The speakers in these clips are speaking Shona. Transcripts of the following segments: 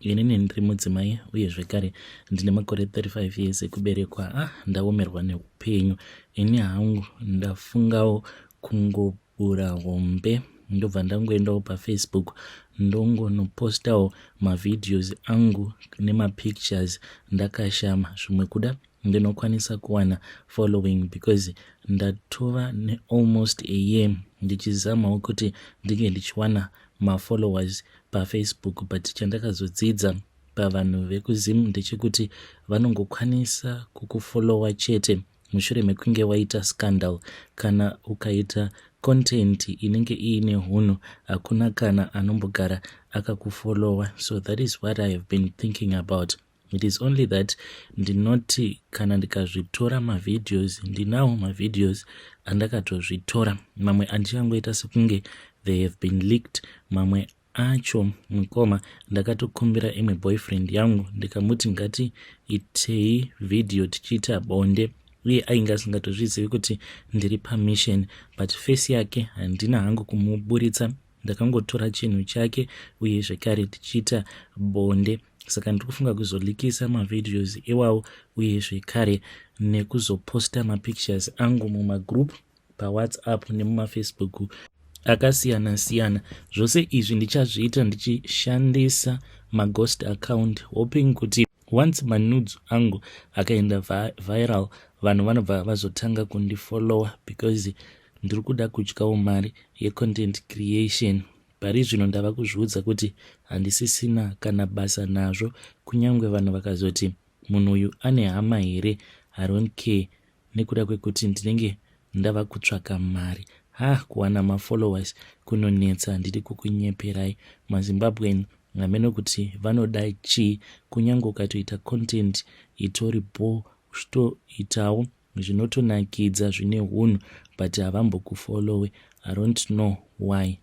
inini ndiri mudzimai uye zvekare ndine makore 35 years ekuberekwa ah ndaomerwa neupenyu ini hangu ndafungawo kungobura hombe ndobva ndangoendawo pafacebook ndongonopostawo mavhidhios angu nemapictures ndakashama zvimwe kuda ndinokwanisa kuwana following because ndatova nealmost a year ndichizamawo kuti ndinge ndichiwana mafollowers pafacebook but chandakazodzidza pavanhu vekuzim ndechekuti vanongokwanisa kukufollowa chete mushure mekunge waita scandal kana ukaita content inenge iine hunhu hakuna kana anombogara akakufollowa so that is what i have been thinking about it is only that ndinoti kana ndikazvitora mavideos ndinawo mavideos andakatozvitora mamwe andichangoita sekunge they have been leaked mamwe acho mukoma ndakatokumbira imwe boyfriend yangu ndikamuti ngati itei vhidhiyo tichiita bonde uye ainge asingatozvizivi kuti ndiri pamission but face yake handina hangu kumuburitsa ndakangotora chinhu chake uye zvekare tichiita bonde saka ndiri kufunga kuzolikisa mavideos iwawo uye zvekare nekuzoposta mapictures angu mumagroup pawhatsapp nemumafacebook akasiyana siyana zvose izvi ndichazviita ndichishandisa maghost account hoping kuti Once manudes angu akaenda viral vanhu vanobva vazotanga kundifollower because ndiri kuda kudyawo mari yecontent creation. Pari zvino ndava kuzviudza kuti handisisina kana basa nazvo kunyange vanhu vakazoti munhu uyu ane hama here, I don't care nekuda kwekuti ndinenge ndava kutsvaka mari ha kuwana mafollowers kunonetsa ndiri kukunyeperai mazimbabwean hameno kuti vanoda chii kunyange ukatoita content itori bho uchitoitawo zvinotonakidza zvine hunhu but havambokufollowe i don't know why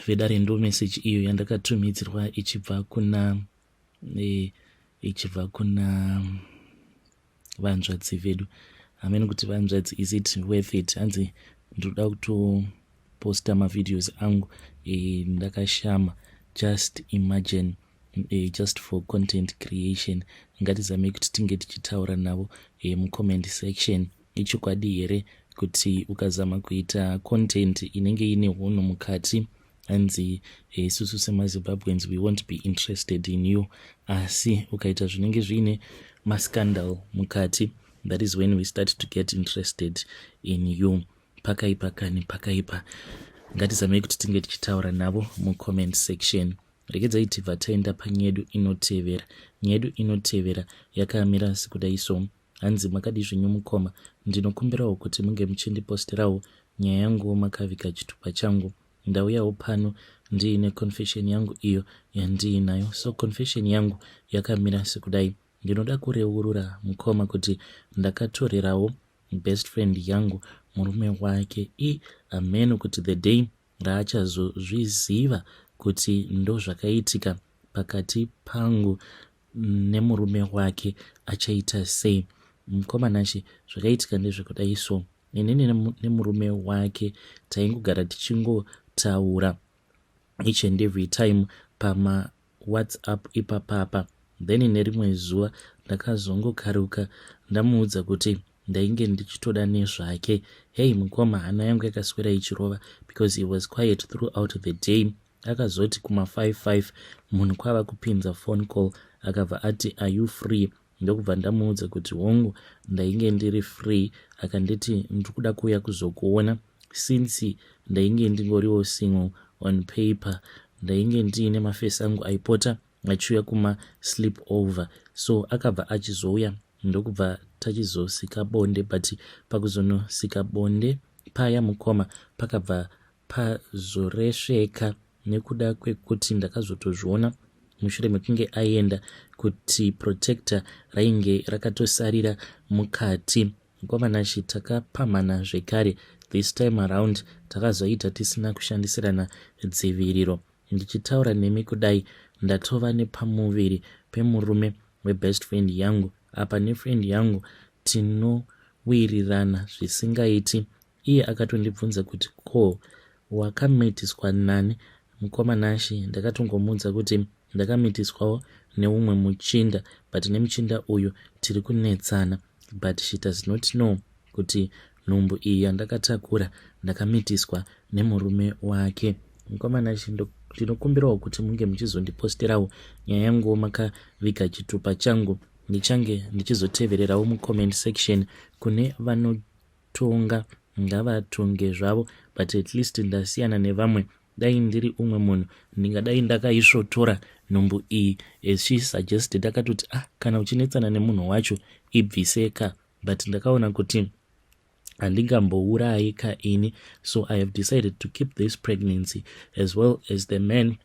vedare ndo message iyo yandakatumidzirwa ichibva kuna e, ichibva kuna vanzvadzi vedu hamene kuti vanzvadzi is it worth it hanzi ndinoda kutoposta mavideos angu e, ndakashama just imagine e, just for content creation ngatizamei kuti tinge tichitaura navo e, mucomment section Ichokwadi here kuti ukazama kuita content inenge ine hunhu mukati hanzi isusu semazimbabweans we won't be interested in you asi ukaita zvinenge zviine mascandal mukati that is when we start to get interested in you pakaipa kani pakaipa ngatizamei kuti tinge tichitaura navo mucomment section rekedzai tibva taenda panyedu inotevera nyedu inotevera yakamira sekudai so Hanzi makadii zvenyu mukoma, ndinokumbirawo kuti munge muchindipostirawo nyaya yanguwo makaviga chitupa changu. Ndauyawo pano ndiine confession yangu iyo yandiinayo. So confession yangu yakamira sekudai. Ndinoda kureurura mukoma kuti ndakatorerawo best friend yangu murume wake i ameno kuti the day raachazozviziva kuti ndozvakaitika pakati pangu nemurume wake achaita sei mukoma nashe zvakaitika ndezvekudai so inini nemurume wake taingogara tichingotaura each and every time pama whatsapp ipapapa then nerimwe zuva ndakazongokaruka ndamuudza kuti ndainge ndichitoda nezvake hei mukoma hana yangu yakaswera ichirova because he was quiet throughout the day Akazoti kuma 55 munhu kwava kupinza phone call akabva ati are you free ndokubva ndamuudza kuti hongu ndainge ndiri free akanditi ndiri kuda kuuya kuzokuona since ndainge ndingoriwo single on paper ndainge ndiine mafesi angu aipota achiuya kuma sleep over so akabva achizouya ndokubva tachizosika bonde but pakuzonosika bonde paya mukoma pakabva pazoresveka nekuda kwekuti ndakazotozviona mushure mekunge aenda kuti protector rainge rakatosarira mukati kwamanashe takapamhana zvekare this time around takazoita tisina kushandisirana dziviriro ndichitaura nemi kudai ndatova nepamuviri pemurume webest friend yangu apa nefriend yangu tinowirirana zvisingaiti Iye akatondibvunza kuti ko wakamitiswa nani mukoma Nashy ndakatongomuudza kuti ndakamitiswawo neumwe muchinda but nemuchinda uyu tiri kunetsana but she does not know kuti nhumbu iyi yandakatakura ndakamitiswa nemurume wake. Mukoma Nashy ndinokumbirawo kuti munge muchizondiposterawo nyaya yanguwo makaviga chitupa changu ndichange ndichizotevererawo mucomment section kune vano Tonga ngavatonge zvavo but at least ndasiyana nevamwe dai ndiri umwe munhu ndingadai ndakaisvotora nhumbu iyi as she suggested akatoti ah kana uchinetsana nemunhu wacho ibviseka but ndakaona kuti handingambourayi ka ini so i have decided to keep this pregnancy as well as the man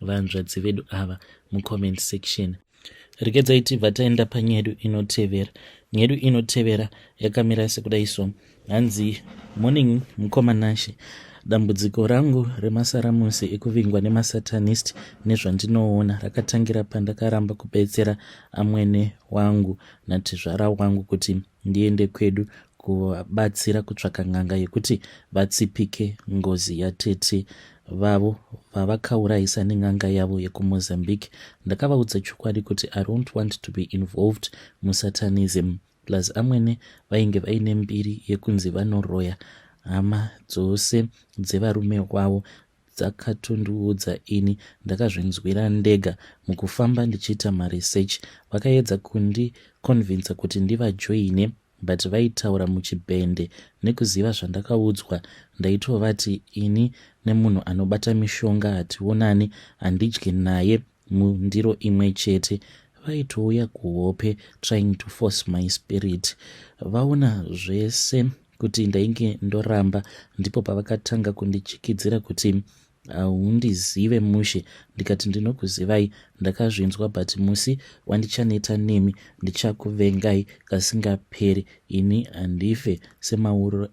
vanzvadzi vedu ava mucomment section rekedzai tibva taenda panyedu inotevera nyedu inotevera yakamira sekudai so hanzi morning mukoma nashe dambudziko rangu remasaramusi ekuvingwa nemasatanist nezvandinoona rakatangira pandakaramba kubetsera amwene wangu natezvara wangu kuti Ndiende kwedu kuvabatsira kutsvaka n'anga yekuti vatsipike ngozi yatete vavo vavakaurayisa nen'anga yavo yekumozambique ndakavaudza chokwadi kuti i don't want to be involved musatanism plus amwene vainge vaine mbiri yekunzi vanoroya hama dzose dzevarume wavo dzakatondiudza ini ndakazvinzwira ndega mukufamba ndichiita maresearch vakaedza kundiconvinca kuti ndivajoine but vaitaura muchibhende nekuziva zvandakaudzwa ndaitovati ini nemunhu anobata mishonga hationani handidyi naye mundiro imwe chete vaitouya kuhope trying to force my spirit vaona zvese kuti ndainge ndoramba ndipo pavakatanga kundichikidzira kuti haundizive uh, mushe ndikati ndinokuzivai ndakazvinzwa but musi wandichaneta nemi ndichakuvengai kasingaperi ini handife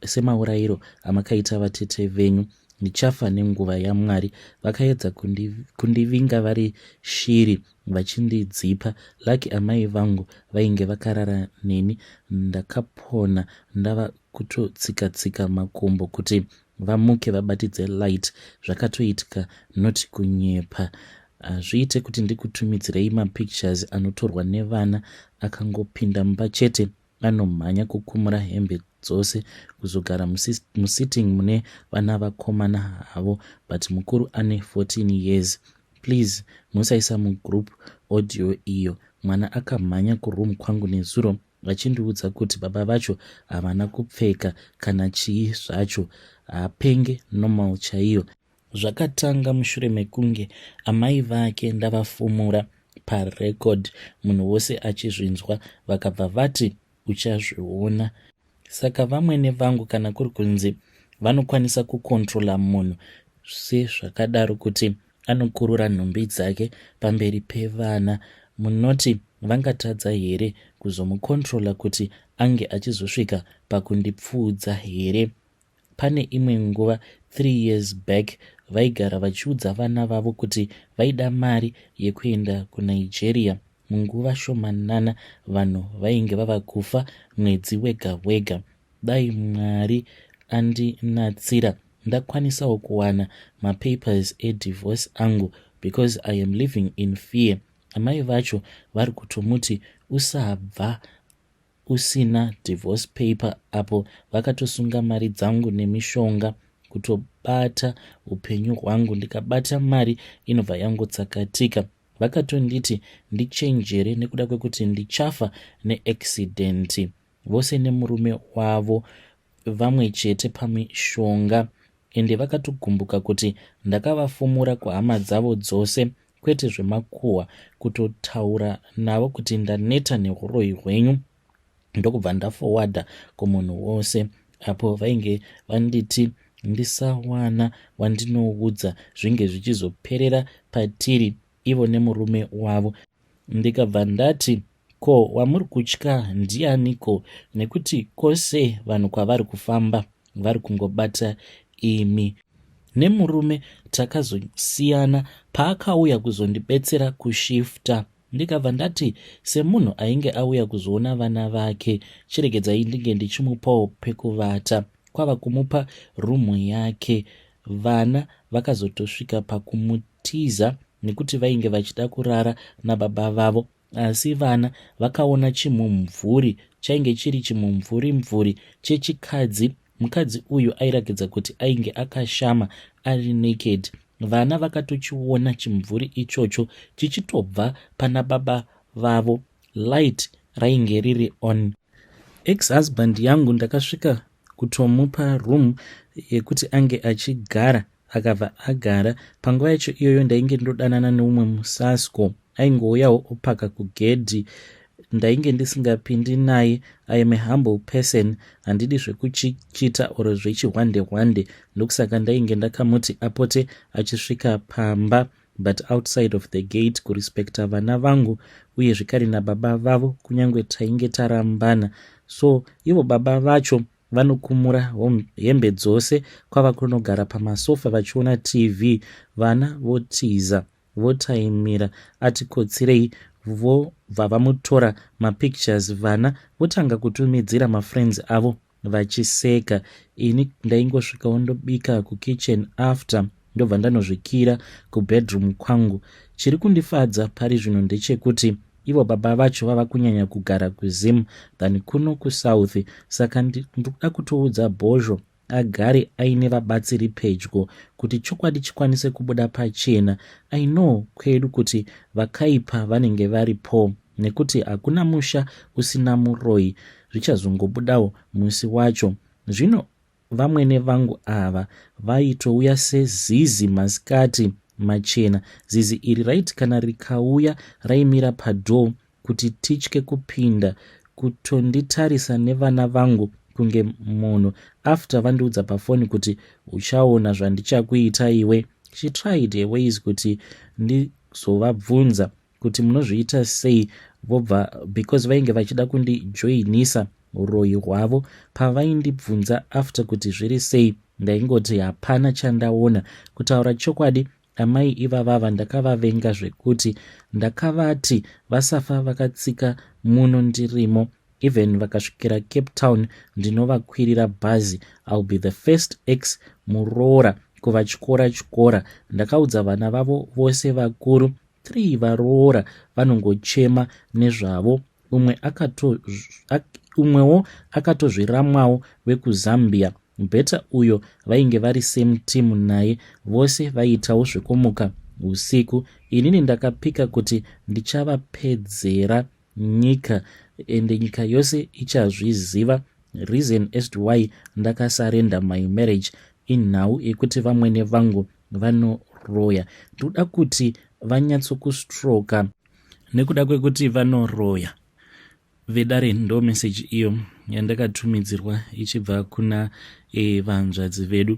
semaurayiro amakaita vatete venyu ndichafa nenguva yamwari vakaedza kundivinga kundi vari shiri vachindidzipa lucky amai vangu vainge vakarara neni ndakapona ndava kutotsika tsika makumbo kuti vamuke vabatidze light zvakatoitika not kunyepa hazviite kuti ndikutumidzirei mapictures anotorwa nevana akangopinda mumba chete Anomhanya kukumura hembe dzose kuzogara musitting mune vana vakomana havo but mukuru ane 14 years. Please musaisa mugroup audio iyo. Mwana akamhanya kuroom kwangu nezuro vachindiudza kuti baba vacho havana kupfeka kana chii zvacho hapenge normal chaiyo Zvakatanga mushure mekunge amai vake ndavafumura parecord munhu wose achizvinzwa vakabva vati uchazviona. Saka vamwene vangu kana kuri kunzi vanokwanisa kukontrola munhu sezvakadaro kuti anokurura nhumbi dzake pamberi pevana munoti vangatadza here kuzomukontrola kuti ange achizosvika pakundipfuudza here Pane imwe nguva three years back vaigara vachiudza vana vavo kuti vaida mari yekuenda kuNigeria munguva shomanana vanhu vainge vava kufa mwedzi wega wega. Dai Mwari andinatsira ndakwanisawo kuwana mapapers edivorce angu because I am living in fear. Amai vacho vari kutomuti usabva usina divorce paper apo vakatosunga mari dzangu nemishonga kutobata upenyu hwangu ndikabata mari inobva yangotsakatika vakatonditi ndichenjere nekuda kwekuti ndichafa neaccident vose nemurume wavo vamwe chete pamishonga ende vakatogumbuka kuti ndakavafumura kuhama dzavo dzose kwete zvemakuhwa kutotaura navo kuti ndaneta neuroyi hwenyu ndokubva ndafowadha kumunhu wose apo vainge vanditi ndisawana wandinoudza zvinge zvichizoperera patiri ivo nemurume wavo ndikabva ndati Ko wamuri kutya ndianiko nekuti kose vanhu kwavari kufamba vari kungobata imi. Nemurume takazosiyana paakauya kuzondibetsera kushifter ndikabva ndati semunhu ainge auya kuzoona vana vake chiregedzai ndinge ndichimupawo pekuvata kwava kumupa room yake. Vana vakazotosvika pakumutiza nekuti vainge vachida kurara nababa vavo Asi vana vakaona chimumvuri chainge chiri chimumvuri mvuri chechikadzi mukadzi uyu airakidza kuti ainge akashama ari naked vana vakatochiona chimumvuri ichocho chichitobva pana baba vavo light rainge riri on ex husband yangu ndakasvika kutomupa room yekuti ange achigara Akabva agara. Panguva yacho iyoyo ndainge ndodanana neumwe musasko aingouyawo opaka kugedhi ndainge ndisingapindi naye i am a humble person handidi zvekuchichita or zvechihwande hwande ndokusaka ndainge ndakamuti apote achisvika pamba but outside of the gate kurespecta vana vangu uye zvikari nababa vavo kunyange tainge tarambana so ivo baba vacho Vanokumura hembe dzose kwava kunogara pamasofa vachiona TV. Vana votiza votaimira ati kotsirei vobva vamutora mapictures vana votanga kutumidzira mafriends avo vachiseka. Ini ndaingosvikawo ndobika kukitchen after. ndobva ndanozvikira kubedroom kwangu chiri kundifadza pari zvino ndechekuti ivo baba vacho vava kunyanya kugara kuzim than kuno kusouth saka ndikuda kutoudza bhozho agare aine vabatsiri pedyo kuti chokwadi chikwanise kubuda pachena i know kwedu kuti vakaipa vanenge vari po nekuti hakuna musha usina muroyi zvichazongobudawo musi wacho zvino Vamwene vangu ava vaitouya sezizi masikati machena. Zizi iri raiti kana rikauya raimira padoor kuti titye kupinda kutonditarisa nevana vangu kunge munhu after vandiudza pafoni kuti uchaona zvandichakuita iwe. She tried her ways kuti ndizovabvunza kuti munozviita sei vobva because vainge vachida kundijoinisa uroyi hwavo pavaindibvunza after kuti zviri sei ndaingoti hapana chandaona kutaura chokwadi amai ivavava ndakavavenga zvekuti ndakavati vasafa vakatsika muno ndirimo even vakasvikira cape town ndinovakwirira bhazi ill be the first x muroora kuvatyora tyora ndakaudza vana vavo vose vakuru three varoora vanongochema nezvavo umwe akato umwewo akatozviramwawo vekuzambia better uyo vainge vari same team naye vose vaiitawo zvekumuka usiku inini ndakapika kuti ndichavapedzera nyika ende nyika yose ichazviziva reason as to why ndakasarenda my marriage inhau yekuti vamwene vangu vanoroya ndoda kuti vanyatsokustroka nekuda kwekuti vanoroya vedare ndo meseji iyo yandakatumidzirwa ichibva kuna e, vanzvadzi vedu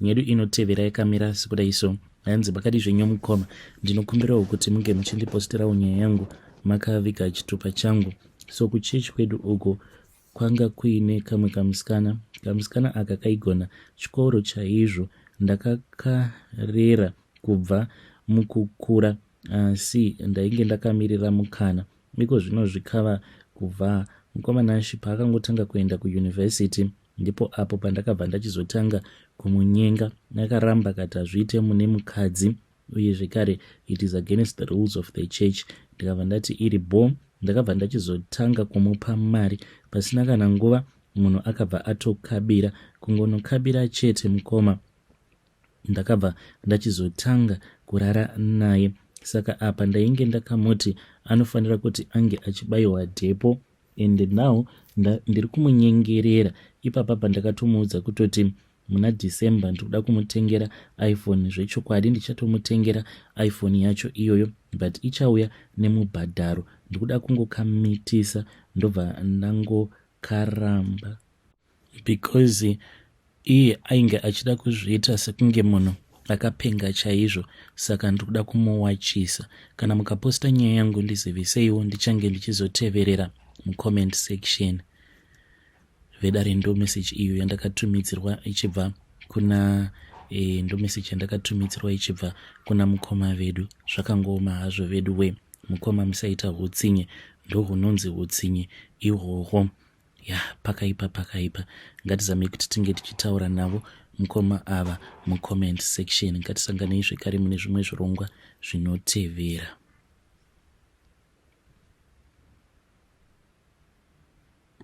Nyedu inotevera yakamira sekudai so hanzi pakadii zvenyu mukoma ndinokumbirawo kuti munge muchindipostirawo nyaya yangu makaviga chitupa changu so kuchechi kwedu uko kwanga kuine kamwe kamusikana kamusikana aka kaigona chikoro chaizvo ndakakarera kubva mukukura asi uh, ndainge ndakamirira mukana iko zvino zvikava kuvhaa mukoma nashi paakangotanga kuenda kuyunivhesiti Ndipo apo pandakabva ndachizotanga kumunyenga. Akaramba akati hazviite mune mukadzi uye zvekare it is against the rules of the church. Ndikabva ndati iri bho. Ndakabva ndachizotanga kumupa mari. Pasina kana nguva munhu akabva atokabira. Kungonokabira chete mukoma. ndakabva ndachizotanga kurara naye saka apa ndainge ndakamuti anofanira kuti ange achibayiwa dhepo and now ndiri kumunyengerera ipapa pandakatomuudza kutoti muna december ndiri kuda kumutengera iphone zvechokwadi ndichatomutengera iphone yacho iyoyo but ichauya nemubhadharo ndiri kuda kungokamitisa ndobva ndangokaramba because iye ainge achida kuzviita sekunge munhu akapenga chaizvo saka ndiri kuda kumuwachisa kana mukaposta nyaya yangu ndiziviseiwo ndichange ndichizoteverera mucomment section vedare ndo message iyo yandakatumidzirwa ichibva kuna e, eh, ndo message yandakatumidzirwa ichibva kuna mukoma vedu zvakangooma hazvo vedu we mukoma musaita utsinye ndohunonzi utsinye ihwohwo ya pakaipa pakaipa ngatizamei kuti tinge tichitaura navo mukoma ava mucomment section ngatisanganei zvekare mune zvimwe zvirongwa zvinotevera